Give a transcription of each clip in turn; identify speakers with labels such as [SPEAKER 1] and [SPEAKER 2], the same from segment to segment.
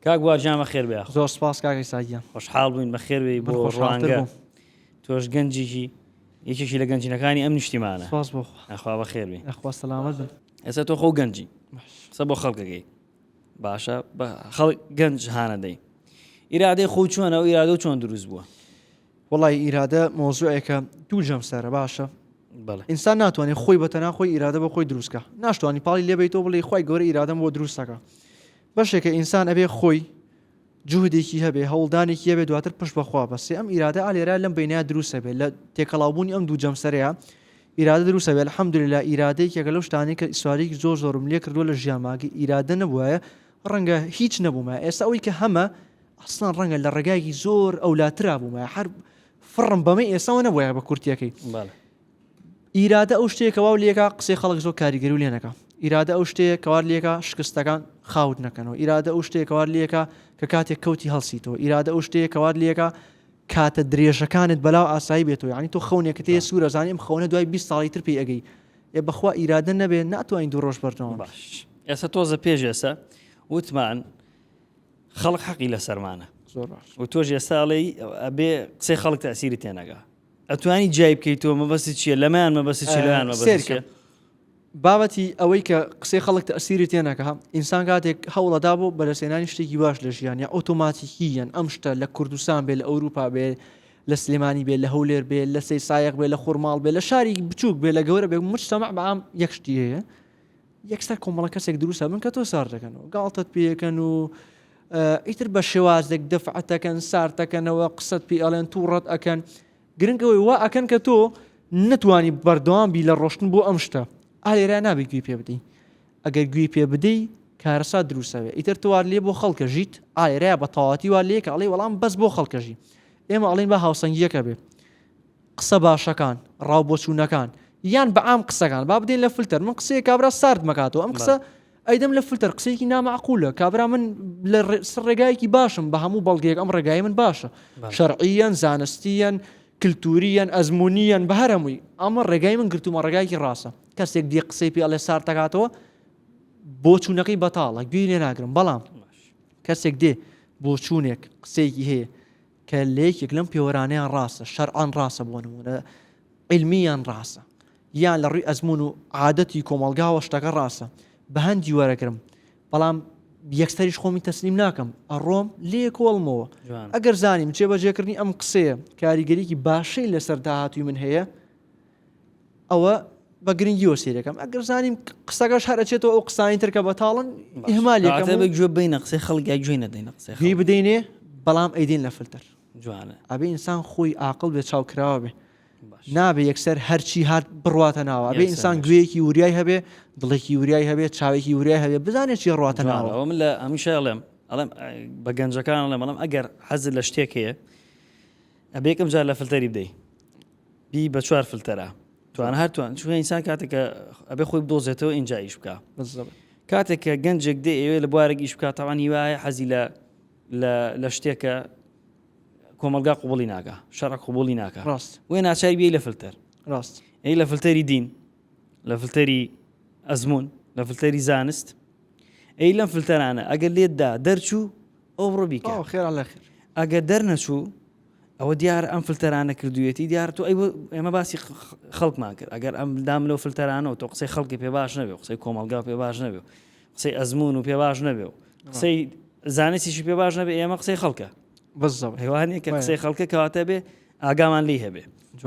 [SPEAKER 1] کاک بوار گیان بەخێر بێی یاخوا. زۆر سوپاس کاک عیسا
[SPEAKER 2] گیان. خۆشحاڵ بووین بەخێر
[SPEAKER 1] بێی بۆ ڕوانگە تۆش گەنجیکی یەکێکی لە گەنجینەکانی ئەم نیشتیمانە سوپاس بۆ خوا یاخوا
[SPEAKER 2] بەخێر بێی یاخوا
[SPEAKER 1] سەلامەت بن
[SPEAKER 2] ئێستا تۆ خۆ گەنجی
[SPEAKER 1] قسە بۆ خەڵکەکەی باشە بە خەڵک گەنج هانەدەی ئیرادەی خۆ چۆنە و ئیرادە و چۆن دروست بووە وڵی
[SPEAKER 2] ئیرادە مۆزوعێکە دوو جەم سەرە باشە ئینسان
[SPEAKER 1] ناتوانێت خۆی
[SPEAKER 2] بەتەنا خۆی ئیرادە بە خۆی دروستکە ناشتوانانی پاڵی لێبیتەوە بڵی خی گەورە ئیرادەم بۆ دروستەکە بەشێکە ئینسان ئەبێ خۆی جوهدێکی هەبێ هەوڵدانێکی هەبێ دواتر پشت بەخوا بەسێ ئەم ئیرادە ئالێرا لەم بینە دروسە بێت لە تێکەڵاوبوونی ئەم دوو جەمسەرەیە ئیرادە دروسە بێت حەمدوری لە ئیرادەیەکێکە لەو شتانی کە ئیسوارێکی زۆر زۆرم لێ کردووە لە ژیانماگە ئیرادە نەبووە ڕەنگە هیچ نەبوومە ئێستا ئەوی کە هەمە ئەسڵان ڕەنگە لە ڕێگایکی زۆر ئەولاترا بوومە هەر فڕم بەمە ئێساەوە نەبووە بە کورتەکەی ئیرادە ئەو شتەیە کە واو لێکا قسەی خەڵک زۆر کاریگەری و لێ نەکا ئیرادە ئەو شتەیە کەوار لێکا شکستەکان خاوت نەکەنەوە ئیرادە ئەو شتەیە کەوار لێکا کە کاتێک کەوتی هەڵسیتەوە ئیرادە ئەو شتەیە کەوار لێکا کاتە درێژەکانت بەلاو ئاسایی بێتەوە ینی تۆ خەونێکە تێ سوورە زانیم خەونە دوای 20 ساڵی تر پێی ئەگەی ئێ بەخوا ئیرادە نەبێ ناتوانین دوو ڕۆژ بەردەوام باش ئێستا
[SPEAKER 1] تۆزە پێش ئێستا وتمان خەڵک حەقی لە سەرمانە زۆر باش و تۆش
[SPEAKER 2] ئێستا ئەڵێ
[SPEAKER 1] ئەبێ قسەی خەڵک تاسیری تێنەگا ئەتوانی جیای بکەیتەوە مەبەستی چییە لەمەیان مەبەستی چی لەویان مەبەست سێرکە چییە؟
[SPEAKER 2] بابەتی ئەوەی کە قسەی خەڵک تەسیری تێنەکە ئینسان کاتێک هەوڵەدا بۆ بەرەسێنانی شتێکی باش لە ژیان یا ئۆتۆماتیکی یەن ئەم شتە لە کوردستان بێ لە ئەوروپا بێ لە سلێمانی بێ لە هەولێر بێ لە سەی سایەق بێ لە خورماڵ بێ لە شاری بچووک بێ لە گەورە بێ مجتمع بە ئام یەک شتی هەیە یەکسەر کۆمەڵە کەسێک دروست ئەبن کە تۆ سارد دەکەنەوە گاڵتەت پێ یەکەن و ئیتر بە شێوازێک دەفعەتەکەن سارتەکەنەوە قسەت پێ ئەڵێن تووڕەت ئەکەن گرنگەوەی وا ئەکەن کە تۆ نتوانی بەردەوام بی لە ڕۆشتن بۆ ئەم شتە ئالێرا نابی گوێ پێ بدەین ئەگەر گوێ پێ بدەی کارەسا دروستەوێ ئیتر توار لێ بۆ خەڵکە ژیت ئالێرا بە تەواتی وا لێکە ئەڵی وەڵام بەس بۆ خەڵکەژی ئێمە ئەڵین بە هاوسەنگیەکە بێ قسە باشەکان ڕاو بۆچوونەکان یان بە عام قسەکان با بدەین لە فلتەر من قسەیە کابرا سارد مەکاتەوە ئەم قسە ئەیدەم لە فلتەر قسەیەکی نامەعقولە کابرا من لە ڕێگایەکی باشم بە هەموو بەڵگەیەک ئەم ڕێگای من باشە شەرعیەن زانستیەن کللتوریان ئەزمونیان بە هەرەمووی ئەمە ڕێگای من گرتومە ڕێگایکی ڕاستە کەسێک دی قسەی پێڵێ سارتەکاتەوە بۆ چوونەکەی بەتاڵە گوێی لێ ناگرم بەڵام کەسێک دێ بۆ چوونێک قسەیەکی هەیە کە لە یەکێک لەم پێوەرانەیان ڕاستە، شەرعەن ڕاستە بۆ نموونە، عیلمییەن ڕاستە، یان لە ڕووی ئەزموون و عادەتی کۆمەڵگاوە شتەکە ڕاستە، بە هەندی وەرەگرم، بەڵام یەکسەریش خۆمی تەسلیم ناکەم، ئەڕۆم لێ کۆڵمەوە. ئەگەر زانیم جێبەجێکردنی ئەم قسەیە کاریگەریی باشەی لەسەر داهاتووی من هەیە، ئەوە بە گرنگی وە سیرەکەم ئەگەر زانیم قسەکەش هەر ئەچێتەوە ئەو قسانی ترکە بە تاڵن هەمالێکەکە گوێ بین قسەی
[SPEAKER 1] خەڵگە گوێ نەدەین قسە هی بدەینێ
[SPEAKER 2] بەڵام ئەیدین لە فلتەر جوانە ئەبێ
[SPEAKER 1] ئینسان خۆی
[SPEAKER 2] ئاقل بێ چاو کراوە بێ نابێ یەکسەر هەرچی هات بڕاتە ناوە بێ ئینسان گوێیەکی وریای هەبێ دڵێکی وریای هەبێ چاوێکی وریای هەبێ بزانێت چی ڕاتە ناوە من لە هەمیشە ئەڵێم
[SPEAKER 1] ئەڵێم بە گەنجەکان ئەڵێم بەڵام ئەگەر حەز لە شتێک هەیە ئەبێکم جار لە فلتەری بدەی بی بە چوار فلتەرە توان هەر توان چون ئینسان کاتێک کە ئەبێ خۆی بدۆزێتەوە ئینجا ئیش بکە کاتێک کە گەنجێک دێ ئێوێ لە بوارێک ئیش بکات تاوان هیوایە حەزی لە لە شتێکە کۆمەلگا قوبڵی ناکە شەڕ قوبڵی ناکە ڕاست وێ ناچای بی
[SPEAKER 2] لە
[SPEAKER 1] فلتەر ڕاست ئەی لە
[SPEAKER 2] فلتەری
[SPEAKER 1] دین لە فلتەری ئەزمون لە فلتەری زانست ئەی لەم فلتەرانە ئەگەر لێتدا دەرچوو ئەو ڕۆبیکە خێرا لە خێر
[SPEAKER 2] ئەگەر دەرنەچوو
[SPEAKER 1] ئەوە دیارە ئەم فلتەرانە کردوویەتی دیارە تۆ ئێمە باسی خەڵکمان کرد ئەگەر ئەم دام لەو فلتەرانەوە تۆ قسەی خەڵکی پێ باش نەبێ قسەی کۆمەلگا پێ باش نەبێ قسەی ئەزمون و پێ باش نەبێ و قسەی زانستیشی پێ باش نەبێ ئێمە قسەی خەڵکە بەزەوە هێوانێک کە قسەی خەڵکە کەواتە بێ ئاگامان لی هەبێ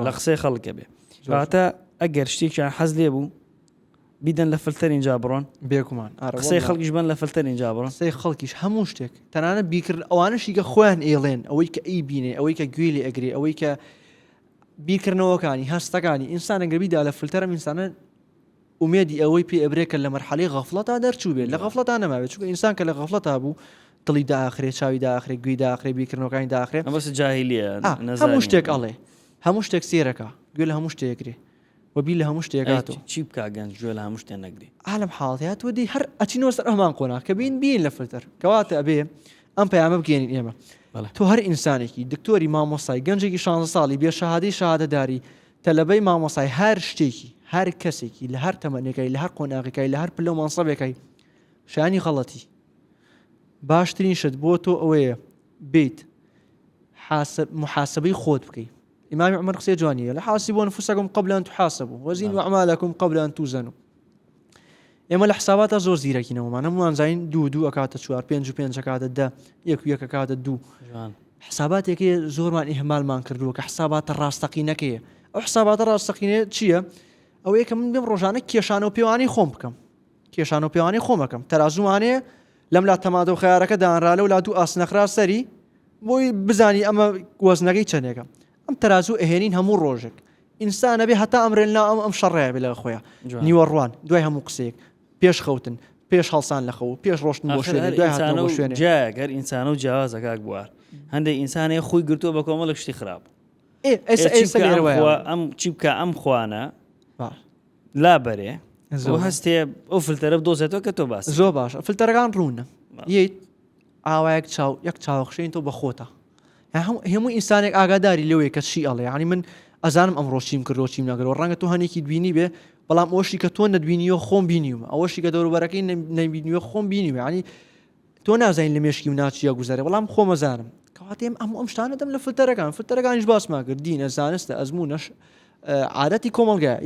[SPEAKER 1] لە قسەی خەڵکە بێ واتە ئەگەر شتێکیان حەز لێ بوو بیدەن لە فلتەر ئینجا بڕۆن. بێگومان ئارە قسەی وەڵا
[SPEAKER 2] خەڵکیش بەن لە
[SPEAKER 1] فلتەر ئینجا بڕۆن. قسەی خەڵکیش هەموو
[SPEAKER 2] شتێک تەنانەت بیرکردن ئەوانەش یگە خۆیان ئێڵێن ئەوەی کە ئەیبینێ ئەوەی کە گوێی لێ ئەگرێ ئەوەی کە بیرکردنەوەکانی هەستەکانی ئینسانە گەر بیدا لە فلتەرم ئینسانە ئومێدی ئەوەی پێ ئەبرێ کە لە مەرحەلەی غەفڵەتا دەرچوو بێت لە غەفڵەتا نەماوێت چونکە ئینسان کە لە غەفڵەتا بوو دڵی داخرێ چاوی داخرێ گوێی داخرێ بیرکردنەوەکانی داخرێ بەس جاهلیە
[SPEAKER 1] آه، هەموو شتێک
[SPEAKER 2] ئەڵێ هەموو شتێک سێرەکە گوێ لە هەموو شتێکرێ و بیر لە هەموو شتێ ئەی کات و چ- چی بکا گەنج گوێ
[SPEAKER 1] لە هەموو شتێ نەگری ها لەم حاڵەتەیا تۆ
[SPEAKER 2] دێی هەر ئەچینەوە سەر هەمان قۆناغ کە بین بین لە فلتەر کەواتە ئەبێ ئەم پەیامە بگەێنین ئێمە بەڵێ. تۆ هەر ئینسانێکی دکتۆری مامۆستای گەنجێکی 16 ساڵی بێ شەهادەی شەهادەداری تەلەبەی مامۆستای هەر شتێکی هەر کەسێکی لە هەر تەمەنێکای لە هەر قۆناغێکای لە هەر پلە و مەنسەبێکای شانی غەڵەتی باشترین شت بۆ تۆ ئەوەیە بیت حاسب محاسبەی خۆت بکەی ئیمامی عمر قسەی جوانی هەیە حاسبوا انفسکم قبل ان تحاسبوا وزنوا اعمالکم قبل ان توزنوا ئێمە لە حساباتە زۆر زیرەکینەوەمان هەمووان زین دوو دوو ئەکاتە چوار پێنج و پێنج کاتە دە یەک و یەکە کاتە دوو حساباتێکی زۆرمان ئیهمالمان کردووە کە حساباتە ڕاستەقینەکەیە ئەو حساباتە ڕاستەقینێ چییە؟ ئەو یەکە من بێم ڕۆژانە کێشانەوە پێوانی خۆم بکەم کێشانەوە پێوانی خۆمەکەم تەرازوانێ لەم لا تەماتە و خەیارەکە دانرا لەو لا دوو ئاست نەخرا سەری بۆی بزانی ئەمە وەزنەکەی چەندێکە ئەم تەرازوو ئەهێنین هەموو ڕۆژێک ئینسانە بێ هەتا ئەمرێن لا ئەم ئەم شەڕەیە بێ لە خۆیان نیوەڕوان دوای هەموو قسەیەک پێش خەوتن پێش هەڵسان لە خەو پێش ڕۆشتن بۆ شوێنە دوای هاتن بۆ شوێنە گەر ئینسانە و
[SPEAKER 1] جیازەکە بوار هەندێک ئینسانەیە خۆی گرتووە بە کۆمەڵک شتی خراپ ئەم چی بکە ئەم خوانە لا بەرێ زۆر هەستێ ئەو فلتەرە دۆزێتەوە کە تۆ باس زۆر باش فلتەرەکان
[SPEAKER 2] ڕوونە ییت ئاوایەک چاو یەک چاوەخشین تۆ بەخۆتە هەموو ئینسانێک ئاگاداری لەوەیە کە چی ئەڵێ ینی من ئەزانم ئەم ڕۆشتیم کردۆچیم نەگەرەوە ڕەنگە تۆ هەنێکی دوینی بێ بەڵام ئەوشی کە تۆ نەدوینیەوە خۆم بینیوم ئەوەشی کە دەوروبەرەکەی نەبینیوە خۆم بینیوە ینی تۆ نازانین لە مێشکی مناڵ چیە گوزەرێ بەڵام خۆمەزانم کەواتێم ئەم ئەم شتانە دەم لە فلتەرەکان فلتەرەکانیش باسمان کرد دینە زانستە ئەزمونەش عادەتی کۆمەلگای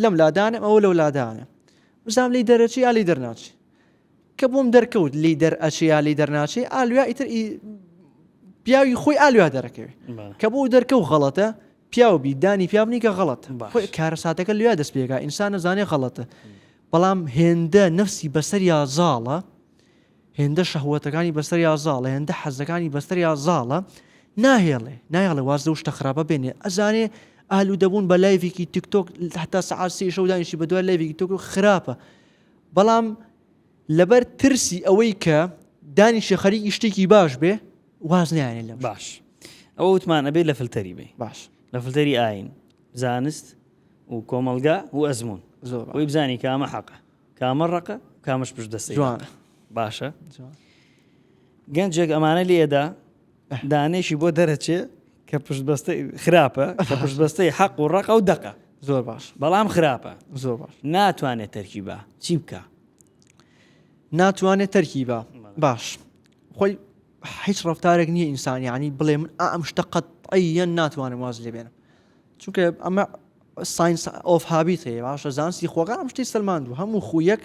[SPEAKER 2] لەم لادانم ئەوە لەو لادانە بزانام لی دەرەچی یا لی دەرناچی کە بۆم دەرکەوت لی دەر ئەچێ یا لی دەرناچێ ئالویا ئیتر پیاوی خۆی ئالویا دەرەکەوێت کە بۆ دەرکە و غەڵەتە پیاو بیدانی پیاونی کە غەڵەت کارە ساتەکە لویا دەست پێکا ئینسان نەزانێ غەڵەتە بەڵام هێندە نەفسی بەسەریا زاڵە، هێندە شەهوەتەکانی بەسەریا زاڵە، هێندە حەزەکانی بەسەریا زاڵە، ناهێڵێ، نایەڵێ واز لەو شتە خراپە بێنێ، ئەزانێ ئالوودەبوون بە لایڤێکی تیکتۆک هەتا سەعات سێی شەو دانیشی بە دوای لایڤێکی تۆک خراپە. بەڵام لەبەر ترسی ئەوەی کە دانیشە خەریکی شتێکی باش بێ واز نیانێ لە باش ئەوە
[SPEAKER 1] وتمان ئەبێ لە فلتەری بێ باش لە فلتەری
[SPEAKER 2] ئاین
[SPEAKER 1] زانست و کۆمەڵگا و ئەزموون زۆر بۆی بزانی کامە حەقە کامە ڕقە کامەش پشت دەستی جوانە باشە گەنجێک ئەمانە لێدا دانێکی بۆ دەرەچێ کە پشت بەستە خراپە کە پشت بەستەی حەق و ڕقە و دەقە زۆر باش بەڵام
[SPEAKER 2] خراپە
[SPEAKER 1] زۆر باش
[SPEAKER 2] ناتوانێت تەرکی بە
[SPEAKER 1] چی بکە ناتوانێت
[SPEAKER 2] تەرکی بە باش خۆی هیچ ڕفتارێک نییە ئینسانیانی بڵێ من ئەم شتە قەت ئەیەن ناتوانم واز لێ بێنم چونکە ئەمە ساینس ئۆف هابیت هەیە باشە زانستی خۆگان ئەم شتی سلمان و هەموو خویەک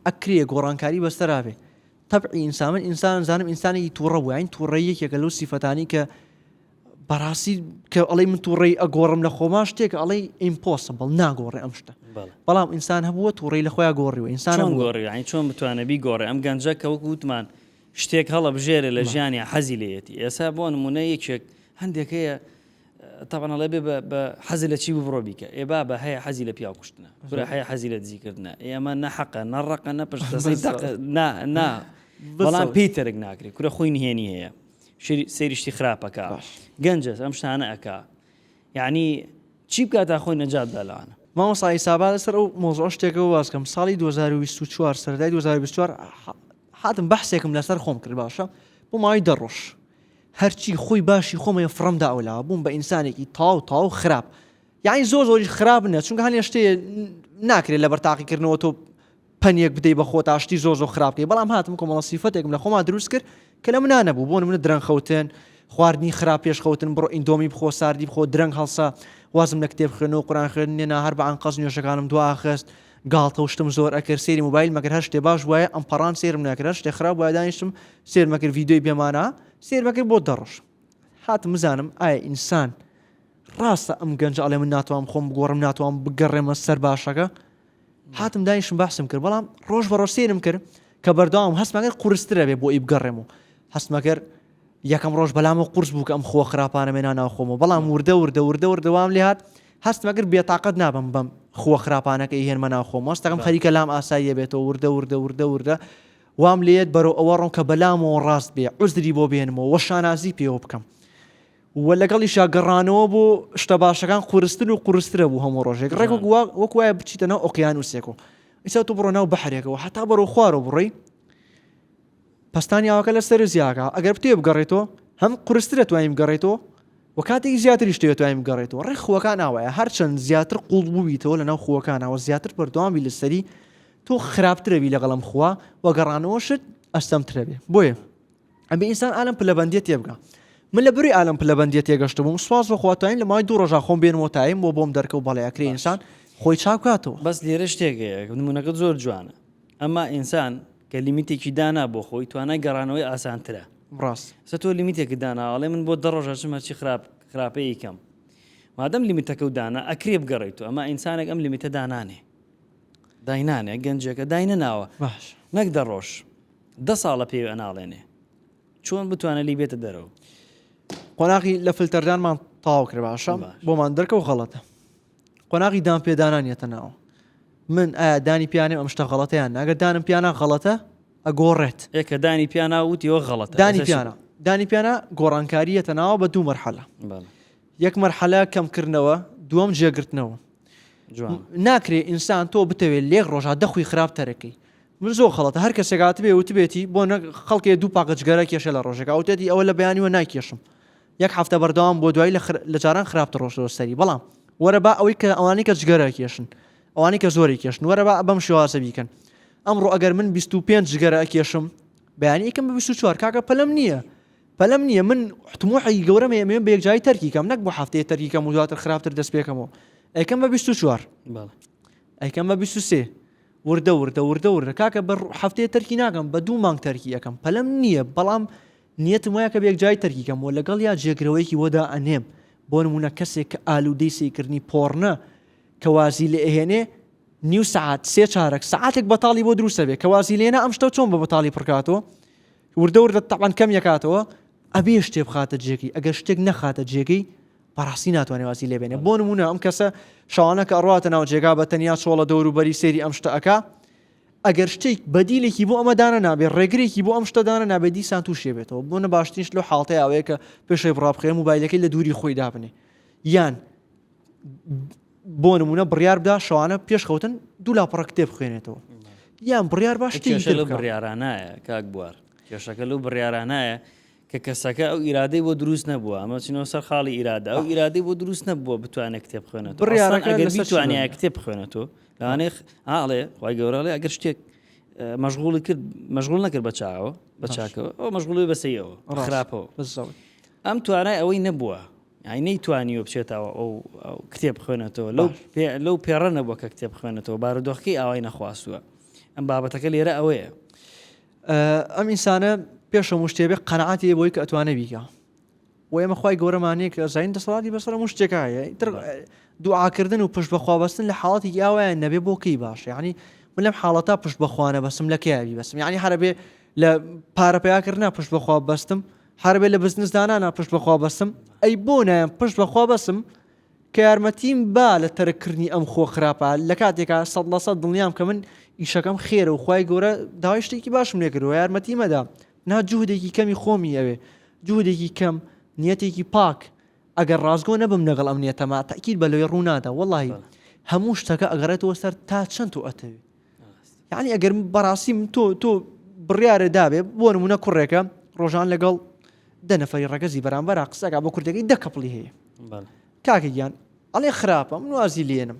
[SPEAKER 2] ئەکرێ گۆڕانکاری بەستەراێ تەبعی ئینسان من ئینسان زانم ئینسانی تووڕە وین تووڕە یەکێکە لەو سیفەتانی کە بەڕاستی کە ئەڵی من تووڕی ئەگۆڕم لە خۆما شتێک ئەڵی ئیمپۆسبڵ ناگۆڕێ ئەم شتە بەڵام ئینسان هەبووە تووڕی لە خۆیان گۆڕی و ئینسان گۆڕی چۆن بتوانەبی
[SPEAKER 1] گۆڕێ ئەم گەنجە کە وەک وتمان شتێک هەڵە بژێرە لە ژیانی حەزی لەیەتی ئێسا بۆ نمونە یەکێک هەندێک هەیە تەبعەن ئەڵێ بێ بە بە حەزی لە چی بوو بڕۆ بیکە. ئێ بابە هەیە حەزی لە پیاو کوشتنە، کورە هەیە حەزی لە دزی کردنە. ئێ ئەمە نە حەقە، نە ڕەقە، نە پشت دەستەی دەق نا نا بەڵام پێی تەرک ناکرێ. کورە خۆی نهێنی هەیە. شری سەیری شتی خراپ ئەکا. گەنجە ئەم شتانە ئەکا. یەعنی چی بکا تا خۆی نەجات بدا لەوانە؟ مامۆستا ئیستا با
[SPEAKER 2] لەسەر ئەو مەوزوعە شتێکەوە واز کەم. ساڵی دوو هەزار و بیست و چوار سەرەتای دوو هەزار و بیست و چوار هاتم بەحسێکم لەسەر خۆم کرد باشە بۆ ماوەی دە ڕۆژ. هەرچی خۆی باشی خۆمەیە فڕم دا ئەولاوە بووم بە ئینسانێکی تاو تاو خراپ یاین زۆر زۆریش خراپ نیە چونکە هەنێ شتێ ناکرێت لە بەرتاقیکردنەوە تۆ پەنیەک بدەی بە خۆتا شتی زۆر زۆر خراپکەی بەڵام هاتم کۆمەڵە سیفەتێکم لە خۆما دروست کرد کە لە منە نەبوو بۆ منە درەنخەوتن خواردنی خراپ پێشخەوتن بڕۆ ئیندۆمی بخۆ ساردی بخۆ درەنگ هەڵسا وازم لە کتێب خوێنەوە قوران خوێن نێنا هەر بەعان قەز نوێشەکانم دواخست گاڵتە و شتم زۆر ئەکرد سێری موبایل مەگەر هەر شتێ باش بوایە ئەم پەڕان سێرم ناکرد هەر شتێ خراپ بوایە دانیشتم سێر مەکرد ڤیددیۆی بێمانە سێر مەکرد بۆ دەڕۆژ هاتم بزانم ئایا ئینسان ڕاستە ئەم گەنج ئەڵێ من ناتوانم خۆم بگۆڕم ناتوان بگەڕێمە سەر باشەکە هاتم دایشم باسم کرد بەڵام ڕۆژ بە ڕۆسێنم کرد کە بەرداوام هەستمەگەر قورسترە بێ بۆ ئی بگەڕێم و هەستمەگەر یەکەم ڕۆژ بەلامەوە قورس بوو کە ئەم خووە خراپانەم هێنا ناو خۆمەوە، بەڵام وردە وردە وردە وردە وام لێ هات هەستم ئەگر بێتاقەت نابم بەم خووە خراپانە کە ئیهێنمە ناو خۆمەوە هەستەکەم خەریکە لام ئاساییە بێتەوە وردە وردە وردە وردە وام لێ یەت بەرەو ئەوە ڕۆم کە بەلامەوە ڕاست بێ عوزری بۆ بێنمەوە و شانازی پێوە بکەم و لەگەڵیشا گەڕانەوە بۆ شتە باشەکان قورستر و قورسترە بوو هەموو ڕۆژێک ڕێک وەک وایە بچیتە ناو ئۆقیانوسێکەوە ئیسا تو بڕۆ ناو بەحرێکەوە هەتا بەرەو خوارەوە بڕۆی پەستانیاوەکە لە سەرو زیاکە ئەگەر بتەوێ بگەڕێتەوە هەم قورسترە توانین بگەڕێتەوە و کاتێکی زیاتریش تەوێت توانین بگەڕێتەوە ڕێ خووەکان ئاوایە هەرچەند زیاتر قوڵ بوویتەوە لەناو خووەکانەوە زیاتر بەردەوامی لەسەری تۆ خراپترەوی لەگەڵم خووە و گەڕانەوەشت ئەستەمترە بێ بۆیە ئەبێ ئینسان ئالم پلەبندێت تێبگا من لە بری ئالم پلەبندێت تێگەشت بووم سواز بەخواتین لە مای دوو ڕژا خۆم بێن وتایم بۆ بۆم دەرکە و بەڵێکرێ ئینسان خۆی چاکاتەوە بەس لێرە شتێک
[SPEAKER 1] نمونونەکە زۆر جوانە ئەما ئینسان کە لیمیتێکی دانا بۆ خۆی توانای گەڕانەوەی ئاسانترە. ڕاست. ئێستا تۆ
[SPEAKER 2] لیمیتێکت
[SPEAKER 1] داناوە ئەڵێ من بۆ دە ڕۆژ ئەچم هەرچی خراپ خراپەی ئەیکەم. مادەم لیمیتەکەو دانا ئەکرێ بگەڕێی تۆ ئەما ئینسانێک ئەم لیمیتە دانانێ. داینانێ گەنجێکە داینەناوە. باش. نەک دە
[SPEAKER 2] ڕۆژ.
[SPEAKER 1] دە ساڵە پێوی ئەناڵێنێ. چۆن بتوانێ لێی بێتە دەرەوە. قۆناغی
[SPEAKER 2] لە فلتەردانمان تەواو کرد باشە؟ بۆمان دەرکەوت غەڵەتە. قۆناغی دان پێدانان یەتە ناو من ئایا دانی پیانێ ئەم شتە غەڵەتەیان ناگەر دانم پیانە غەڵەتە ئەگۆڕێت ئێ کە دانی پیانا
[SPEAKER 1] وتیەوە غەڵەت دانی پیانە دانی
[SPEAKER 2] پیانە گۆڕانکاریەتە ناوە بە دوو مەرحەلە یەک مەرحەلە کەمکردنەوە دووەم جێگرتنەوە ناکرێ ئینسان تۆ بتەوێت لێک ڕۆژا دەخوی خراپ تەرەکەی من زۆر خەڵەتە هەر کەسێکات بێ وتبێتی بۆ خەڵکێ دوو پاکەجگەرە کێشە لە ڕۆژێکا وتێتی ئەوە لە بەیانیوە ناکێشم یەک هەفتە بەردەوام بووە دوایی لە جاران خراپتر ڕۆشتەوە سەری بەڵام وەرە با ئەوەی کە ئەوانەی کە جگەرە کێشن ئەوانەی کە زۆری کێشن وەرە با بەم شێوازە بیکەن ئەمڕۆ ئەگەر من 25 جگەرە ئەکێشم بەیانی ئەکەم بە 24 کاکە پەلەم نییە پەلەم نییە من حتموحی گەورەم ئێمێ بە یەکجاری تەرکی کەم نەک بۆ هەفتەیە تەرکی کەم و دواتر خراپتر دەست پێکەمەوە ئەیکەم بە 24 ئەیکەم بە 23 وردە وردە وردە وردە کاکە بە هەفتەیە تەرکی ناکەم بە دوو مانگ تەرکی یەکەم پەلەم نییە بەڵام نیەتم وایە کە بەیەکجاری تەرکی کەم و لەگەڵیا جێگرەوەیەکی بۆ دائەنێم، بۆ نموونە کەسێک کە ئالوودەی سەیرکردنی پۆڕنە کە وازی لێ ئەهێنێ نیو سەعات سێ چارەک سەعاتێک بەتاڵی بۆ دروست ئەبێ کە وازی لێنا ئەم شتە چۆن بە بەتاڵی پڕ کاتەوە وردە وردە تەبعەن کەمی ئەکاتەوە ئەبێ شتێ بخاتە جێگەی ئەگەر شتێک نەخاتە جێگەی بەڕاستی ناتوانێ وازی لێ بێنێ بۆ نموونە ئەم کەسە شەوانە کە ئەڕاتە ناو جێگا بە تەنیا چۆڵە دەوروبەری سەیری ئەم شتە ئەکا ئەگەر شتێک بەدیلێکی بۆ ئەمە دانە نابێت ڕێگرێکی بۆ ئەم شتە دانە نابێت دیسان تووشێ بێتەوە بۆ نە باشترین شت لەو حاڵتەی ئەوەیە کە پێشەی بڕابخێ موبایلەکەی لە دووری خۆی دابنێ یان بۆ نمونە بڕیار بدا شەوانە پێشخەوتن دوو لاپەڕە کتێب بخوێنێتەوە یان بڕیار باش بڕیارانایە
[SPEAKER 1] کاک بوار کێشەکە لەو بڕیارانایە کە کەسەکە ئەو ئیرادەی بۆ دروست نەبووە، ئەمە چینەوە سەر خاڵی ئیرادە، ئەو ئیرادەی بۆ دروست نەبووە بتوانێت کتێب بخوێنێتەوە، ئەسڵەن بڕیارەکە لەسەر ئەگەر شتێک بیتوانیایە دەبێت. کتێب بخوێنێتەوە، لەوانەیە خ- ها ئەڵێ خوای گەورە ئەڵێ ئەگەر شتێک اه، مەشغوڵی کرد مەشغوڵ نەکرد بە چاوەوە بە باش. چاکەوە ئەو مەشغوڵی بە سەیەوە بە ڕاست. خراپەوە بەس زەڵی. ئەم توانای ئەوەی نەبووە یعنی نەیتوانیوە بچێتەوە ئەو ئەو کتێب بخوێنێتەوە لەو باش. پێ- لەو پێڕە نەبووە کە کتێب بخوێنێتەوە بارودۆخەکەی ئاوای نەخواستووە ئەم بابەتەکە لێرە ئەوەیە
[SPEAKER 2] ئەم ئینسانە پێش هەموو شتێ بێ قەنەعاتی هەیە بۆی کە ئەتوانێ بیکا و ئێمە خی گەورەمانەیە کە زین دەسەڵاتی بەسەر هەموو شتێکە هەیە دوعاکردن و پشت بەخوابستن لە حاڵەتی یاوایان نەبێ بۆکەی باش ینی من لەم حاڵەتا پشت بەخواانە بەسم لە کەیاوی بەسم ینی هەربێ لە پارەپیاکردنا پشت بەخوا بەستم هەربێ لە بزنسدانانە پشت بەخوا بەسم ئەی بۆ نایەن پشت بەخوا بەسم کە یارمەتیم با لە تەرک کردنی ئەم خۆ خراپە لە کاتێکا سەد لە سەد دڵنیام کە من ئیشەکەم خێرە و خی گەورە داوای شتێکی باشم لێ کردوە یارمەتی مەدا نا جوهدێکی کەمی خۆمی ئەوێ جوهدێکی کەم نیەتێکی پاک ئەگەر ڕاستگۆ نەبم لەگەڵ ئەم نیەتەما تاکییر بە لەوێ ڕوونادا وەڵی هەموو شتەکە ئەگەڕێتەوە سەر تا چەند و ئەتەوێت یعنی ئەگەر بەڕاستی من تۆ تۆ بڕیارە دابێ بۆ نمونە کوڕێکە ڕۆژان لەگەڵ دە نەفری ڕگەزی بەرامبەر قسەکە بۆ کوردەکەی دە کەپڵی هەیە کاکە گیان ئەڵێ خراپە من وازی لێنم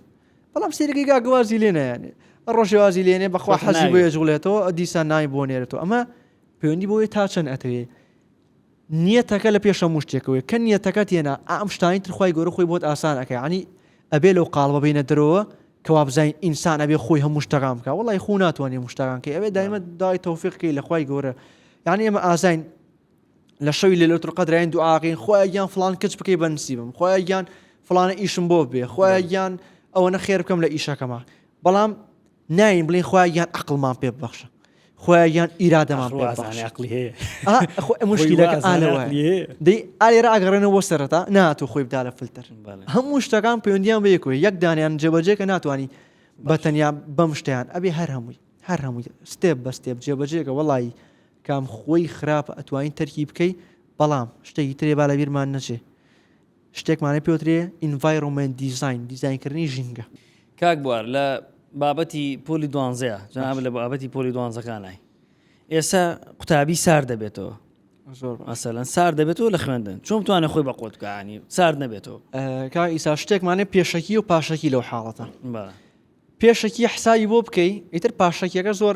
[SPEAKER 2] بەڵام سێرەکەی گاگوازی لێ نایانێ ڕۆژێوازی لێنێ بەخوا حەزی بۆ ێجوڵێتەوە دیسان نای بۆ نێرێتەوە ئەمە پەیوەندی بۆیە تا چەند ئەتەوێ نیەتەکە لە پێش هەموو شتێکەوەیە کە نیەتەکە تێنا ئا ئەم شتانی تر خوای گەورە خۆی بۆت ئاسان ئەکا یەعنی ئەبێ لەو قاڵبە بینە دەرەوە کە وابزانین ئینسان ئەبێ خۆی هەموو شتەکان بکا وەڵای خۆ ناتوانانی هەموو شتەکان کەی ئەبێ دایمە دای تەوفیق کەی لە خوای گەورە یعنی ئێمە ئازاین لە شەوی لە لەوتر قەدرین دوعاقین خۆیان گیان فلان کچ بکەی بە نسیبم خۆیان گیان فلانە ئیشم بۆ بێ خۆیان گیان ئەوە نە خێر بکەم لە ئیشەکەمە بەڵام ناین بڵێ خوا یان عقلمان پێ ببەخشە خۆیان یان ئیرادەمان پێ بەخشە. عقلی هەیە
[SPEAKER 1] خۆ ئەم مشکلەکە
[SPEAKER 2] ئالەوە دەی ئالێ ئاگەڕێنەوە سەرەتا ناتۆ خۆی بدا لە فلتەر بەڵێ. هەموو شتەکان پەیوەندیان بە یەکۆی یەک دانیان جێبەجێ کە ناتوانانی بە تەنیا بەم شتیان ئەبێ هەر هەمووی هەر هەمووی ستێپ بە ستێپ جێبەجێکە وەڵایی کام خۆی خراپە ئەتوانین تەرکی بکەی بەڵام شتێکی ترێ با لە بیرمان نەچێ شتێکمانە پێوترێ Environment Design، دیزاینکردنی ژینگە. کاک بوار لە
[SPEAKER 1] بابەتی پۆلی دوانزەیە جەنابت لە بابەتی پۆلی دوانزەکانای ئێستا قوتابی سار دەبێتەوە زۆر باش. مەسەلەن سار دەبێتەوە لە خوێندن چۆن بتوانێت خۆی بە قوت بکانی سار نەبێتەوە ئە، کا ئیسا
[SPEAKER 2] شتێکمانە پێشەکی و پاشەکی لەو حاڵەتە بە پێشەکی حساوی بۆ بکەی ئیتر پاشەکیەکە زۆر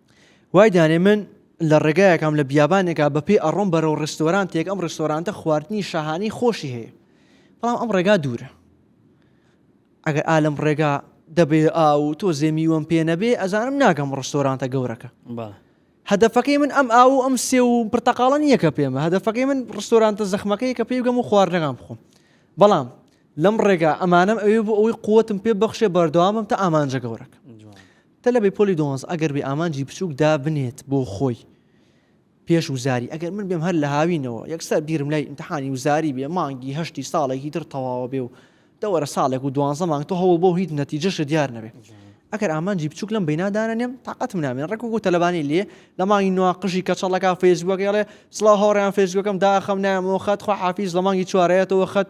[SPEAKER 1] وای
[SPEAKER 2] دانێ من لە ڕێگایەکەم لە بیابانێکا بەپێی ئەڕۆم بەرەو ڕستۆرانتێک ئەم ڕستۆرانتە خواردنی شاهانی خۆشی هەیە بەڵام ئەم ڕێگا دوورە ئەگەر ئالم ڕێگا دەبێ ئاو تۆ زێمیوەم پێ نەبێ ئەزانم ناگەم ڕستۆرانتە گەورەکە هەدەفەکەی من ئەم ئاو ئەم سێ و پرتەقاڵە نییەکە پێمە هەدەفەکەی من ڕستۆرانتە زەخمەکەی کە پێی گەم و خواردنەکان بخۆم بەڵام لەم ڕێگا ئەمانم ئەوێ بۆ ئەوەی قوتم پێ بەخشێ بەردەوامم تا ئامانجە گەورەکە تەلەبەی پۆلی دوانزە ئەگەر بێ ئامانجی بچووک دابنێت بۆ خۆی پێش وزاری ئەگەر من بێم هەر لە هاوینەوە یەکسەر بیرم لای ئیمتحانی وزاری بێ مانگی هەشتی ساڵێکی تر تەواوە بێ و دەوەرە ساڵێک و دوانزە مانگ تۆ هەوڵ بۆ هیچ نەتیجەشە دیار نەبێ ئەگەر ئامانجی بچووک لەم بینادانە نێم تااقەتم نامێن ڕێک و تەلەبانی لێ لە مانگی نووا قژی کەچەڵەکە فێزبووەکەڵێ سڵاو هاوڕیان فێزبووەکەم داخەم نامەوە خەت خۆ حافیز لە مانگی چوارەتەوە خەت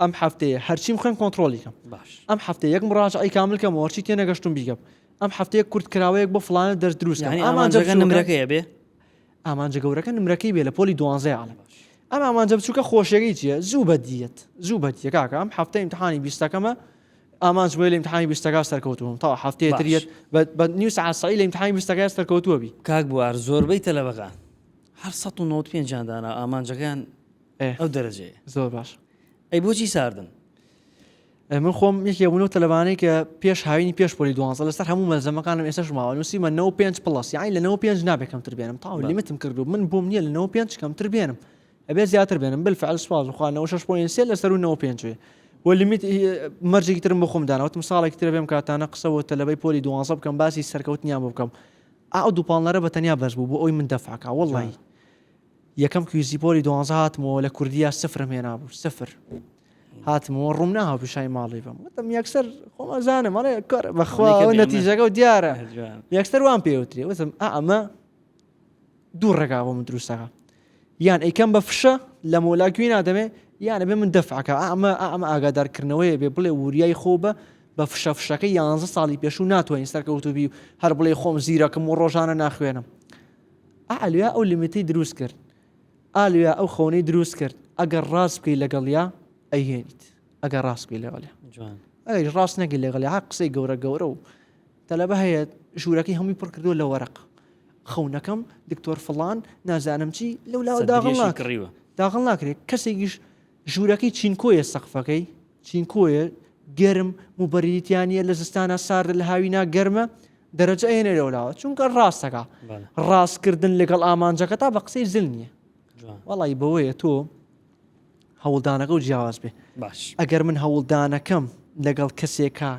[SPEAKER 2] ئەم هەفتەیە هەرچیم خوێن کۆنتترۆلی کەم باش ئەم هەفتە
[SPEAKER 1] یەک مراجعی
[SPEAKER 2] کامل کەم وەرچی تێ نەگەشتم بیگەم ئەم هەفتەیە کورت کراوەیەک بۆ فلانە دەست دروست یعنی ئامانجەکە نمرەکەیە
[SPEAKER 1] بێ ئامانجە
[SPEAKER 2] گەورەکە نمرەکەی بێ لە پۆلی دوانزای عاالم ئەم ئامانجە بچووکە خۆشیەکەی چیە زوو بەدیت زوو بەدیە کاکە ئەم هەفتە امتحانی بیستەکەمە ئامانج بۆی لە امتحانی بیستەکە سەرکەوتوم تا هەفتەیە تریت بە نیو سعسایی لە امتحانی بیستەکە سەرکەوتووە بی کاک بوار زۆربەی
[SPEAKER 1] تەلەبەکان هەر 1995 دانا ئامانجەکان ئەو دەرەجەیە زۆر باش ئەی
[SPEAKER 2] بۆچی ساردن من خۆم یەکێ بوون و تەلبانەی کە پێش هاوینی پێش پۆلی دوانزە لەسەر هەموو مەلزەمەکانم ئێسش ماوە نووسیمە 95 پلس یاین لە 95 نابێ کەمتر بێنم تاو لیمتم کردو من بووم نییە لە 95 کەمتر بێنم ئەبێ زیاتر بێنم بل فعل سواز وخوانەوە شش پوین سێ لەسەر و 95 و لیمیت مەرجێکی ترم بۆ خۆم داناوتم ساڵێک تر بێم کاتانە قسەوە تەلەبەی پۆلی دوانزە بکەم باسی سەرکەوتنیان بکەم ئاو دووپالنەرە بە تەنیا بەس بوو بۆ ئەوی من دەفاکە وڵی یەکەم کویزی پۆلی دوانزە هاتمەوە لە کوردیا سفرم هێنابوو سفر هاتمەوە ڕوم ناهاو پیشای ماڵی بم وتم یەکسەر خۆمەزانم ئەڵێ کار بەخوا نەتیجەکە و دیارە یەکسەر وان پێوترێ وتم ئەمە دوو ڕێگا بۆ من دروستەکە یان ئەیکەم بە فشە لە مۆلا گوێ نادەمێ یانە بێ من دەفعکە ئەمە ئەمە ئاگادارکردنەوەی بێ بڵێ وریای خۆ بە بە فشە فشەکە یانزە ساڵی پێشوو ناتوانین سەرکەوتوبی و هەر بڵێ خۆم زیرەکەم و ڕۆژانە ناخوێنم ئالیا ئەو لیمیتەی دروست کرد ئالیا ئەو خەونەی دروست کرد ئەگەر ڕاست بکەی لەگەڵیا ئەیهێنیت ئەگەر ڕاست بکەی لەگەڵیا ئەگەر ڕاست نەگەی لەگەڵ ها قسەی گەورە گەورە و تەلەبە هەیە ژوورەکەی هەمووی پڕ کردو لە وەرەق خەونەکەم دکتۆر فڵان نازانم چی لەو لاوە داغڵ ناکڕیوە داغڵ ناکرێت کەسێکیش ژوورەکەی چینکۆیە سەقفەکەی چینکۆیە گەرم موبەریتیانە لە زستانە ساردە لە هاوینا گەرمە دەرەجە ئەێنە لەولاوە چونکە ڕاستەکە ڕاستکردن لەگەڵ ئامانجەکە تا بە قسەی زل نییە وەڵی بەوەیە تۆ هەوڵدانەکە و جیاواز بێ باش ئەگەر من
[SPEAKER 1] هەوڵدانەکەم
[SPEAKER 2] لەگەڵ کەسێکە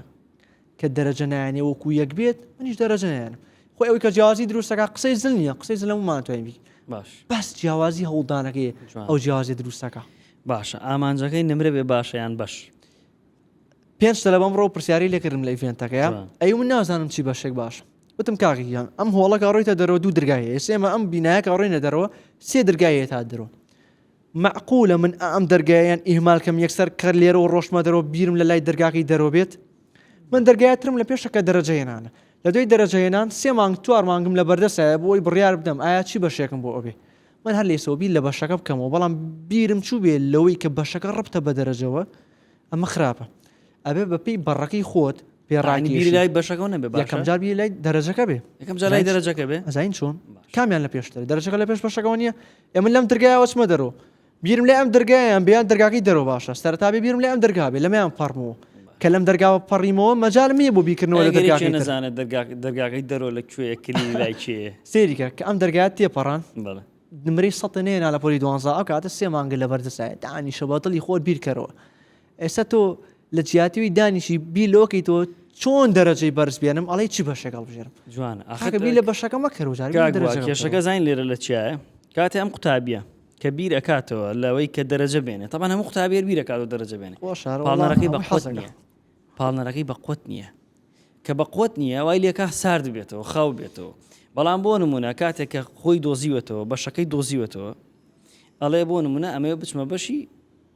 [SPEAKER 2] کە دەرەجە نایەنێ وەکو یەک بێت منیش دەرەجە نایەنم خۆ ئەوەی کە جیازی دروستەکە قسەی زل نیە قسەی زلەممان توانین بی باش بەس
[SPEAKER 1] جیاوازی
[SPEAKER 2] هەوڵدانەکەی ئەو جیازی دروستەکە باشە
[SPEAKER 1] ئامانجەکەی نمرە بێ باشەیان بەش
[SPEAKER 2] پێنج لە بەم ڕۆ پرسیاری لەکردم لە ئیڤێنتەکەیە ئەی من نازانم چی بەشێک باش وتم کاغیان ئەم هۆڵەکە ڕۆیتە دەرەوە دوو درگایە ئێسێمە ئەم بینایەکە ڕۆینە دەرەوە سێ درگایە تا درۆ مەعقولە من ئەم دەرگایەیان ئیهمال کەم یەکسەر کەر لێرەوە ڕۆشتمە دەرەوە بیرم لە لای دەرگاکەی دەرەوە بێت من دەرگایە ترم لە پێشە کە دەرەجە هێنانە لە دوای دەرەجە هێنان سێ مانگ چوار مانگم لە بەردەسایە بۆ ئەوی بڕیار بدەم ئایا چی بەشێکم بۆ ئەوێ من هەر لەیسەوە بیر لە بەشەکە بکەمەوە بەڵام بیرم چوو بێ لەوەی کە بەشەکە ڕبتە بە دەرەجەوە ئەمە خراپە ئەبێ بەپی بەڕەکەی خۆت پێڕانی لای بەشەکە
[SPEAKER 1] نەبێ یەکەم جار لای
[SPEAKER 2] دەرەجەکە بێ یەکەم جار لای دەرەجەکە
[SPEAKER 1] بێ ئەزین چۆن کامیان
[SPEAKER 2] لە پێشتر دەرەجەکە لە پێش بەشەکەەوە نیە ئێمە لەم درگایەوە چمە دەرۆ بیرم لێ ئەم درگایان بیان دەرگاکەی دەرۆ باشە سەرتابێ بیرم لێ ئەم دەرگا بێ لەمیان پەڕمەوە کە لەم دەرگاوە پەڕیمەوە مەجال نییە بۆ بیکردنەوە لە دەرگاکەی نەزانە
[SPEAKER 1] دەرگاکەی دەرۆ لە کوێ کلی لای کێ سێریکە کە ئەم دەرگات
[SPEAKER 2] تێپەڕان نمری
[SPEAKER 1] سەێ
[SPEAKER 2] ناە لە پۆلی دوانزا ئەو کاتە سێ مانگە لە بەردەسایە دانی شەباتڵی خۆر بیرکەرەوە ئێستا تۆ لە جیاتیوی دانیشی بی لۆکی تۆ چۆن دەرەجەی بەرز بێنم ئەڵی چی بەشێک هەڵبژێرم جوان ئەخەکەبی لە
[SPEAKER 1] بەشەکە
[SPEAKER 2] مەکەرۆژارکێشەکە زین
[SPEAKER 1] لێرە لە چیایە کاتێ ئەم قوتابیە کە بیر ئەکاتەوە لەوەی کە دەرەجە بێنێ تەمان هەموو قوتابێر بیرەکات و دەرەجە بێنێ پاڵنەرەکەی بە حەز نیە پاڵنەرەکەی بە قوت نییە کە بە قوت نییە وای لێکا سارد بێتەوە خاو بێتەوە بەڵام بۆ نمونە کاتێک کە خۆی دۆزیوەتەوە بەشەکەی دۆزیوەتەوە ئەڵێ بۆ نمونە ئەمەوێ بچمە بەشی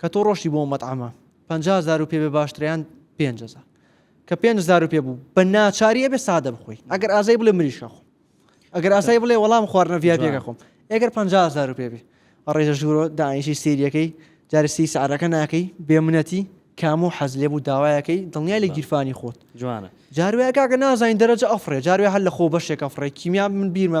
[SPEAKER 2] کە تۆ ڕۆشتی بۆ ئەو مەتعەمە پەنجا هەزار روپیە بێ باشتریان پێنج هەزار کە پێنج هەزار روپیە بوو بە ناچاری ئەبێ سادە بخۆی ئەگەر ئازای بڵێ مریش خۆ ئەگەر ئاسای بڵێ وەڵام خواردنە ڤیاپیەکە خۆم ئەگەر پ هزار پێ بێ ڕێژە ژورۆ داعیشی سریەکەی جارسی سعرەکە ناکەی بێمنەتی کام و حەز لێ بوو داوایەکەی دڵنیای لە گیرفانی خۆت جوانە جاروەیە
[SPEAKER 1] کاکە
[SPEAKER 2] نازانین دەرەجە ئەفرێ جاروێ هەر لە خۆ بەشێکە فڕێ کیمیان من بیرمە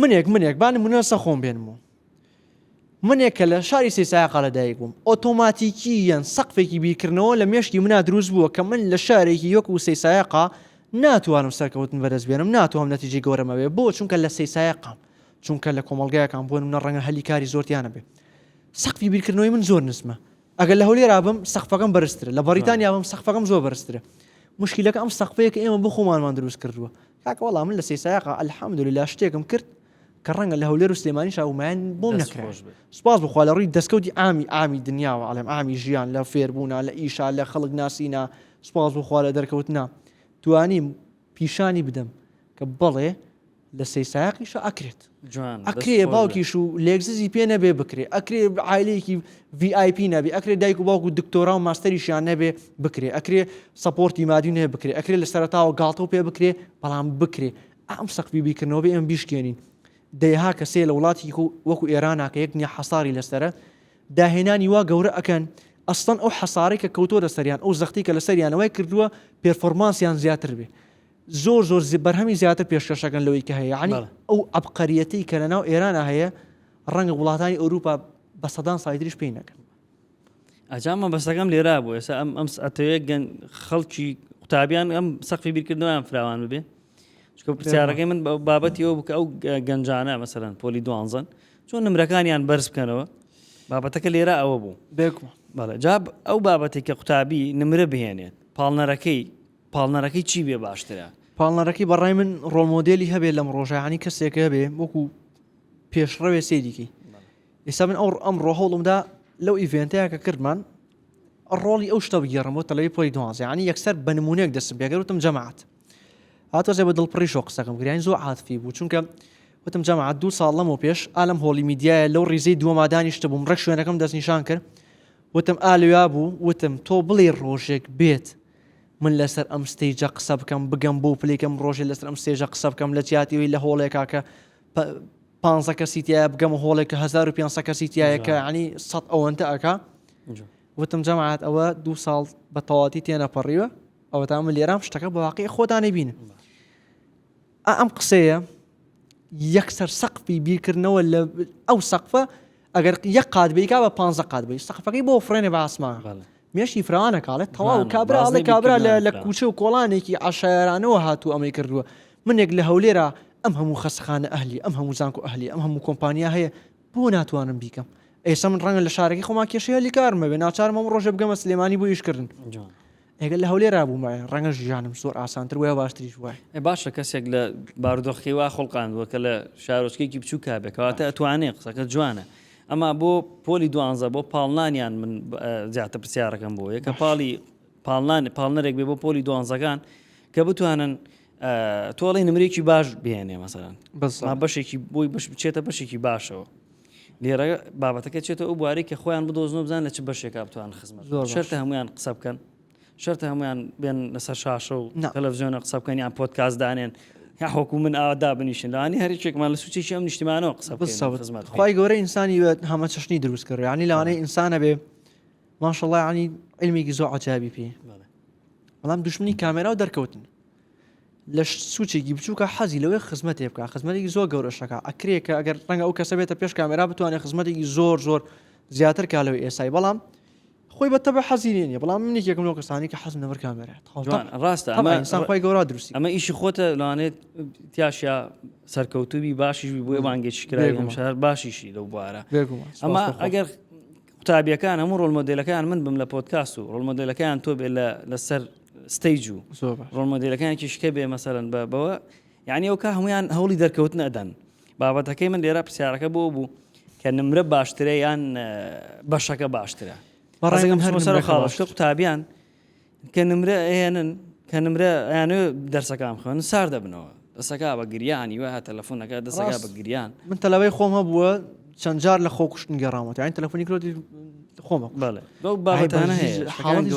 [SPEAKER 2] منێک منێک با نمونە سە خۆم بێنم و منێک کە لە شاری سیساقا لە دایک بووم ئۆتۆماتیکی یەن سەقفێکی بیرکردنەوە لە مێشکی منا دروست بووە کە من لە شارێکی یۆک و سیساقا ناتوانم سەرکەوتن بەدەست بێنم ناتوانم نەتیجی گەورەمەوێ بۆ چونکە لە سیساقام چونکە لە کۆمەلگایەکان بۆ منە ڕەنگە هەلی کاری زۆرتیانە بێ سەقفی بیرکردنەوەی من زۆر نزمە ئەگەر لە هەولێرا بم سەقفەکەم بەرزترە لە بەریتانیا بم سەقفەکەم زۆر بەرزترە مشکلەکە ئەم سەقفەیە کە ئێمە بۆ خۆمانمان دروست کردووە کاکە وەڵا من لە سەیسایەقا الحمدللە شتێکم کرد کە ڕەنگە لە هەولێر و سلێمانی شاومایان بۆم نەکرا سپاس بخوا لە ڕووی دەستکەوتی ئامی ئامی دنیاوە ئەڵێم ئامی ژیان لە فێربوونا لە ئیشا لە خەڵک ناسینا سپاس بخوا لە دەرکەوتنا توانیم پیشانی بدەم کە بەڵێ لە سەیسایقیشە ئەکرێت ئەکرێ باوکیش و لێکززی پێ نەبێ بکرێ ئەکرێ عیلەیەکی VIP نەبێ ئەکرێ دایک و باوکو دکتۆرا و ماستەریشیان نەبێ بکرێ ئەکرێ سپۆرتی مادیون هەیە بکرێ ئەکرێ لە سەرتاوە گاڵتە و پێ بکرێ بەڵام بکرێ ئەم سەقفی بیکردنەوە بێ ئەم بیشکێنین دەیها کەسێ لە وڵاتی وەکو ئێراناکە یەک نیە حەساری لەسرە داهێنانی وا گەورە ئەەکەن ئەستان ئەو حەسارێک کە کەوتۆ لەسەریان ئەو زەختی کە لەسەریانەوەی کردووە پێرفۆرمانسیان زیاتر بێ زۆر زۆر بەرهەمی زیاتر پێشکەش دەکەن لەوەی کە هەیە یعنی ئەو عبقەریەتی کە لەناو ئێرانە هەیە ڕەنگە وڵاتانی ئەوروپا بە سەدان سایدریش پێی نەکەن ئەجامە
[SPEAKER 1] بەسەکەم لێرا بوو ئێستا ئەم ئەم ئەتەوەیە گەن خەڵکی قوتابیان ئەم سەقفی بیرکردنەوەیان فراوان ببێ چکە پرسیارەکەی من بابەتی ئەو بکە ئەو گەنجانە مەسەرەن پۆلی دوانزن چۆن نمرەکانیان بەرز بکەنەوە بابەتەکە لێرە ئەوە بوو بێکم بەڵێ جاب ئەو بابەتی کە قوتابی نمرە بهێنێت پاڵنەرەکەی پاڵنەرەکەی چی بێ باشترە؟ پاڵنەرەکەی بەڕای من
[SPEAKER 2] ڕۆمۆدێلی هەبێ لەم ڕۆژانی کەسێکە هەبێ وەکو پێشڕەوێ سێریکەی ئێستا من ئەو ئەم ڕۆهڵمدا لەو ئیڤێنتەیە کە کردمان ڕۆڵی ئەو شتە بگێڕم بۆ تەلەوی پۆی دوازیانی یەکسەر بە نمونونێک دەسم پێگەوتم جەماعات هاتۆزێ بە دڵپڕی شۆ قسەکەم گریان زۆ عاتفی بوو چونکە وتم جەماعات دوو ساڵ لەمە پێش ئالم هۆڵی میدیایە لەو ڕیزەی دووەمادانیشتە بووم ڕێک شوێنەکەم دەستنیشان کرد وتم ئالویا بوو وتم تۆ بڵێ ڕۆژێک بێت من لەسەر ئەم ستەیجە قسە بکەم بگەم بۆ پلێکەم ڕۆژێ لەسەر ئەم ستێژە قسە بکەم لە جیاتیەوەی لە هۆڵێکا کە پانزە کەسی تیا بگەم هۆڵێکە 1500 کەسی تایەکە عنی سە ئەوەنتە ئەکا وتم جەماعات ئەوە دو ساڵ بە تەواتی تێنەپەڕیوە ئەوە تا من لێرام شتەکە بەواقعی خۆدانەبین ئا ئەم قسەیە یەکسەر سەقفی بیرکردنەوە لە ئەو سەقفە ئەگەر یەک قات بیکا بە پ قات بی سەقفەکەی بۆ فڕێنێ بە ئاسمان مێشی فراوانە کاڵێت تەواو کابراڵێ کابرا لە کوچە و کۆڵانێکی عشارانەوە هاتوو ئەمەی کردووە منێک لە هەولێرا ئەم هەموو خەسخانە ئەهلی ئەم هەموو زانکو ئەهلی ئەم هەموو کۆمپانیا هەیە بۆ ناتوانم بیکەم ئێستا من ڕەنگە لە شارەکەی خۆما کێشەیە لیکارمەوێ ناچارمەم ڕۆژە بگەمە سلێمانی بۆ یشکردن ئەگەر لە هەولێرا بوومایە ڕەنگە ژیانم زۆر ئاسانتر بووایە و باشتریش بووایە. ئێ باشە کەسێک لە
[SPEAKER 1] بارودۆخەکەی وا خوڵقاندووە کە لە شارۆچکەیەکی بچووکا بێ کەواتە ئەتوانێ قسەکەت جوانە ئەما بۆ پۆلی دوانزە بۆ پاڵنانیان من زیاتر پرسیارەکەم بۆ یەکە پاڵی پاڵنان پاڵنەرێک بێ بۆ پۆلی دوانزەکان کە بتوانن تۆڵی نمرێکی باش بێنێ مەسەران بەس بەشێکی
[SPEAKER 2] بۆی
[SPEAKER 1] بەش بچێتە بەشێکی باشەوە لێرە بابەتەکە چێتە ئەو بوارەی کە خۆیان بدۆزن و بزان لە چ بەشێکا بتوان خزمەت زۆر شەرتە هەمویان قسە بکەن شەرتە هەمویان بێن لەسەر شاشە و تەلەڤزیۆنە قسە بکەن یان پۆتکاس دانێن هەحۆکو من ئادا بنیشن لەوانی هەرچێکمان لە سوچێکی ئەم نیشتیمانەوە قسە بزمەت خی گەورە ئینسانی
[SPEAKER 2] بێت هەمە چشنی دروست کرد ینی لەوانەی ئینسانە بێ ماشەڵی علمێکی زۆ عجابی پێ بەڵام دشمنی کامێرا و دەرکەوتن لە سوچێکی بچووکە حەزی لەوەی خزمەتێ بکە خزمەتێکی زۆر گەورەشەکە ئەکرێ کە ئەگەر ڕەنگە ئەو کەسە بێتە پێش کامێرا بتوانێت خزمەتێکی زۆر زۆر زیاتر کا لەوە ئێسای بەڵام خۆی بە تەبە حەزیری نیە بەڵام منێک یەکم لەو کەسانی کە حەز نەبەر کامێرە ڕاستە
[SPEAKER 1] ئەمەسانخوای گەورا
[SPEAKER 2] دروستی ئەمە ئیشی خۆتە
[SPEAKER 1] لەوانێت تیاشە سەرکەوتوبی باشیش بۆی بانگێک شکرای شار باشیشی لەو بوارە ئەمە ئەگەر قوتابیەکان هەموو ڕۆل مۆدلەکان من بم لە پۆتکاست و ڕۆل مۆدلەکان تۆ بێت لەسەر ستەیج و ڕۆن مۆدیلەکانێکی شکە بێ مەسەرن بە بەوە یعنی ئەو کا هەمویان هەوڵی دەرکەوتن ئەدەن بابەتەکەی من لێرە پرسیارەکە بۆ بوو کە نمرە باشترە یان بەشەکە باشترە بەڕێگەم هەر سەر خاڵشکە قوتابیان کە نمرە ئەێنن کە نمرە یانە دەرسەکان خوێن سار دەبنەوە دەسەکا بە گریان ی وەها تەلەفونەکە دەسەکا بە گریان. من تەلەبەی خۆم هەبووە
[SPEAKER 2] چەند جار لە خۆ کوشتن گەڕامەوە یانی تەلەفۆنی کرۆتی خۆمە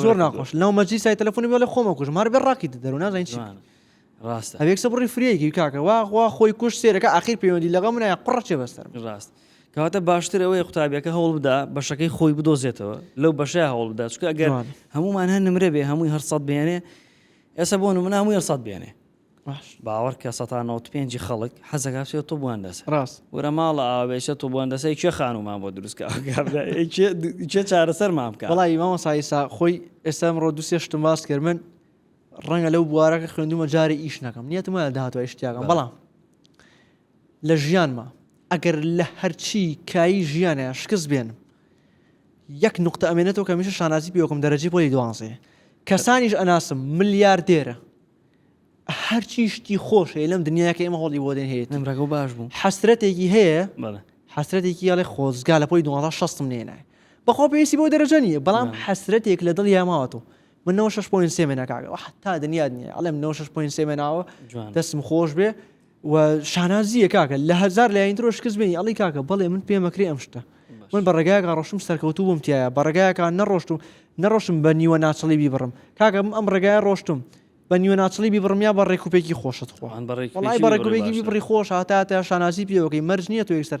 [SPEAKER 1] زۆر ناخۆش
[SPEAKER 2] لەو مەجی سای تەلەفۆنی بۆ لە خۆمە کوش مار بە ڕاکی دەرو نازین چی ڕاست
[SPEAKER 1] ئەوێکسە بڕی فرێکی
[SPEAKER 2] کاکە واخوا خۆی کوش سێرەکە ئاخیر پەیوەندی لەگە منە قڕچێ بەستەر ڕاست کەواتە
[SPEAKER 1] باشتر ئەوەیە قوتابیەکە هەوڵ بدا بەشەکەی خۆی بدۆزێتەوە لەو بەشە هەوڵ بدا چکە ئەگەر هەمومان هەن نمرە بێ هەمووی هەرسەد بێنێ ئێسە بۆ مناموی هەرسەد بێنێ باش باوەڕکە سەتا نەوەد پێنجی خەڵک حەزەکا بچێتە طب و هەندەسە ڕاست ورە ماڵە
[SPEAKER 2] ئاوا بێ
[SPEAKER 1] چە طب و هەندەسەی کێ خانومان بۆ دروست کا کێ چارەسەرمان بکا وەڵایی مامۆستا ئیسا
[SPEAKER 2] خۆی ئێستا ئەمڕۆ دوو سێ شتم باس کرد من ڕەنگە لەو بوارەکە خوێندومە جارێ ئیش نەکەم نیەتم وایە داهاتوە ئیش تیاکەم بەڵام لە ژیانما ئەگەر لە هەرچی کایی ژیانە شکست بێنم یەک نقطە ئەمێنێتەوە کە میشە شانازی پێوەکەم دەرەجی پۆلی دوانزێ کەسانیش ئەناسم ملیار دێرە هەرچی شتی خۆش هەیە لەم دنیاە کە ئێمە هۆڵی بۆدێن هەیە نمرەکە و باش بوو
[SPEAKER 1] حەسرەتێکی هەیە
[SPEAKER 2] حەسرەتێکی یاڵێ خۆزگا لە پۆی 1960 نێنای بەخۆ پێویستی بۆ دەرەجە نیە بەڵام حەسرەتێک لە دڵ یاماوەەوە من 6 پوین سێمێنەکەگە تا دنیا دنیا ئەڵێم 6 پوین سێمێناوە دەستم خۆش بێ و شانازیە کاکە لە هەزار لایەن درۆ شکست بێنی ئەڵی کاکە بەڵێ من پێمەکرێ ئەم شتە من بە ڕێگایەکە ڕۆشتم سەرکەوتو بووم تایە بە ڕێگایەکە نەڕۆشتم نەڕۆشم بە نیوە ناچڵی بیبڕم کاکەم ئەم ڕێگای ڕۆشتم بە نیوە ناچڵی بیبڕم یا بە ڕێکوپێکی خۆشت خۆیان بەڕێکوپێکی بڕی خۆش هاتاتە شانازی پێوەکەی مەرج نییە تو یەکسەر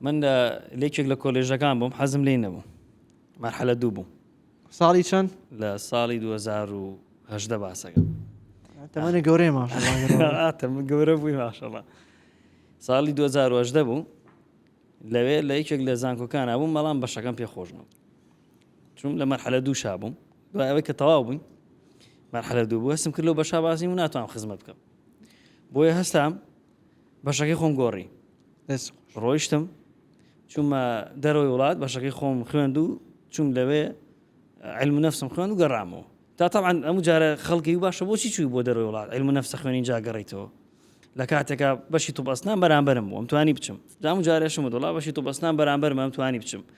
[SPEAKER 1] من لە لەکێک لە کۆلێژەکان بووم حەزم لی نەبوو مەرحەلە دوو بووم ساڵی چەند
[SPEAKER 2] لە ساڵی
[SPEAKER 1] 2010 باسەکە تەمانە
[SPEAKER 2] گەورەی ماشڵاتەم گەورە بووی
[SPEAKER 1] ماشەڵە ساڵی 2010 بوو لەوێ لە یەکێک لە زانکۆکان بووم بەڵام بەشەکەم پێ خۆش بوو چون لە مەرحەلە دوو شا بووم دوای ئەوەی کە تەواو بووین مەرحەلە دوو بوو هەستم کرد لەو بەشا بازی و ناتوانم خزمەت بکەم بۆیە هەستام بەشەکەی خۆم گۆڕی ڕۆیشتم چونمە دەرەوەی وڵات بەشەکەی خۆم خوێند و چوم لەوێ علم نفسم خوێن و گەڕامەوە تا طبعا ئەم جارە خەڵکی و باشە بۆچی چوی بۆ دەرەوەی وڵات علم نفسە خوێنین جاگەڕیتەوە لە کاتێکا بەشی تو بەستان بەرامبرم بۆم توانی بچم دام جارێشم دڵا بەشی تو بەستان بەرامبەر مام توانی بچم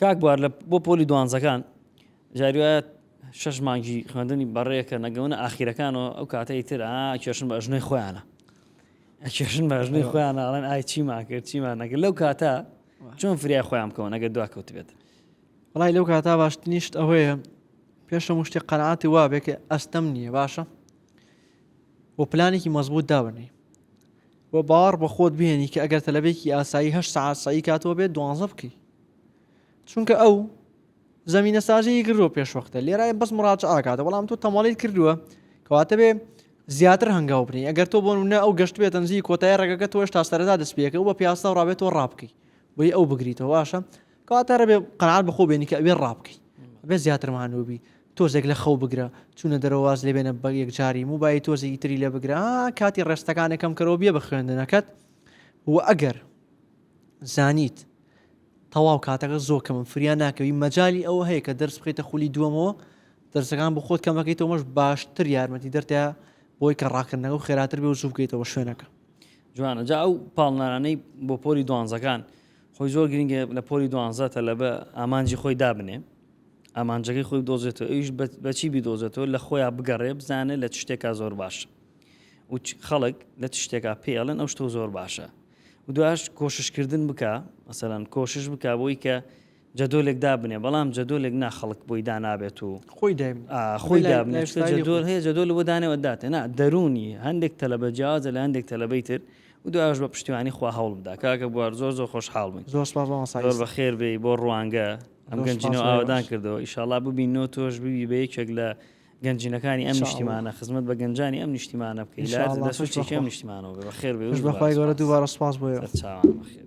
[SPEAKER 2] کاک بوار لە بۆ
[SPEAKER 1] پۆلی دوانزەکان جاری وایە شەش مانگی خوێندنی بەڕێکە نەگەونە ئاخیرەکانەوە ئەو کاتە ئیتر ئا کێشن بە ئەژنۆی خۆیانە ئەکێشن بە ئەژنۆی خۆیان ئاڵێن ئای چیمان کرد چیمان نەکرد لەو کاتە چۆن فریای خۆیان بکەون ئەگەر دوا کەوت بێت وڵی لەو
[SPEAKER 2] کاتا باشتنیشت ئەوەیە پێشە مشتی قەنعاتی وابێک ئەستەم نییە باشە و پلانێکی مەزبوط دابنی و باڕ بە خۆت بێنی کە ئەگەر تەلبێکی ئاسایی هە سعات سعی کاتەوە بێت دوانزە بکەی چونکە ئەو زمینە سازی کردو پێشوەختە لێرای بەس مراجعاکاتە بەڵام تۆ تەماڵیت کردووە کەواتە بێ زیاتر هەنگاو بنی ئەگەر تۆ بۆن نە ئەو گەشت بێت ئەنجی کۆتای ڕێگەکە تۆش تا سەردا دەستپێکە و بە پیاسە و ڕابێت تۆ ڕابکەی بۆی ئەو بگریتەوە باشە کەواتە ڕێ قەنات بخۆ بێنی کە ئەوێ ڕابکەی بێ زیاتر مانوبی تۆزێک لە خەو بگرە چونە دەرەواز لێ بێنە بە یەکجاری موبای تۆزێکی تری لێ بگرە کاتی ڕێستەکانەکەم کەەوە بێ بە خوێندنەکەت و ئەگەر زانیت تەواو کاتەکە زۆر کەمم فریا ناکەوی مەجای ئەوە هەیە کە دەرس بخیتە خولی دووەمەوە دەرسەکان بۆ خۆت کەمەکەیتەوە مەش باشتر یارمەتی دەرتە بۆی کە ڕاکردنەوە خێراتر بێ و زوو بکەیتەوە شوێنەکە جوانە جا
[SPEAKER 1] ئەو پاڵنانانەی بۆ پۆلی دوانزەکان خۆی زۆر گرنگە لە پۆلی دوانزە تەلە بە ئامانجی خۆی دابنێ ئامانجەکەی خۆی دۆزێتەوە ئەوش بەچی بیدۆزێتەوە لە خۆیان بگەڕێ بزانێت لە شتێکا زۆر باش و خەڵک لە شتێکا پێڵێن ئەو شتۆ زۆر باشە و دوایش کۆشش کردن بکا مەسەلەن کۆشش بکا بۆی کە جەدۆلێک دابنێ بەڵام جەدۆلێک نا خەڵک بۆی دانابێت و خۆی خۆی جەدۆل هەیە جەدۆل بۆ دانێوە داتێ نا دەرونی هەندێک تەلەبە جیازە لە هەندێک تەلەبەی تر و دوایش بە پشتیوانی خوا هەوڵ بدا کاکە بوار زۆر زۆر خۆشحاڵ بن زۆر زۆر بە خێر بێ بۆ ڕوانگە ئەم گەنجینەوە ئاوادان کردەوە ئیشاڵا ببینەوە تۆش ببی بە یەکێک لە گەنجینەکانی ئەم نیشتیمانە خزمەت بە گەنجانی ئەم نیشتیمانە بکەی لە سوچێکی
[SPEAKER 2] ئەم
[SPEAKER 1] نیشتیمانەوە
[SPEAKER 2] بێ
[SPEAKER 1] بەخێر بێ بەخوای
[SPEAKER 2] گەورە
[SPEAKER 1] دووبارە
[SPEAKER 2] سپاس
[SPEAKER 1] بۆ
[SPEAKER 2] چاوان
[SPEAKER 1] بەخێر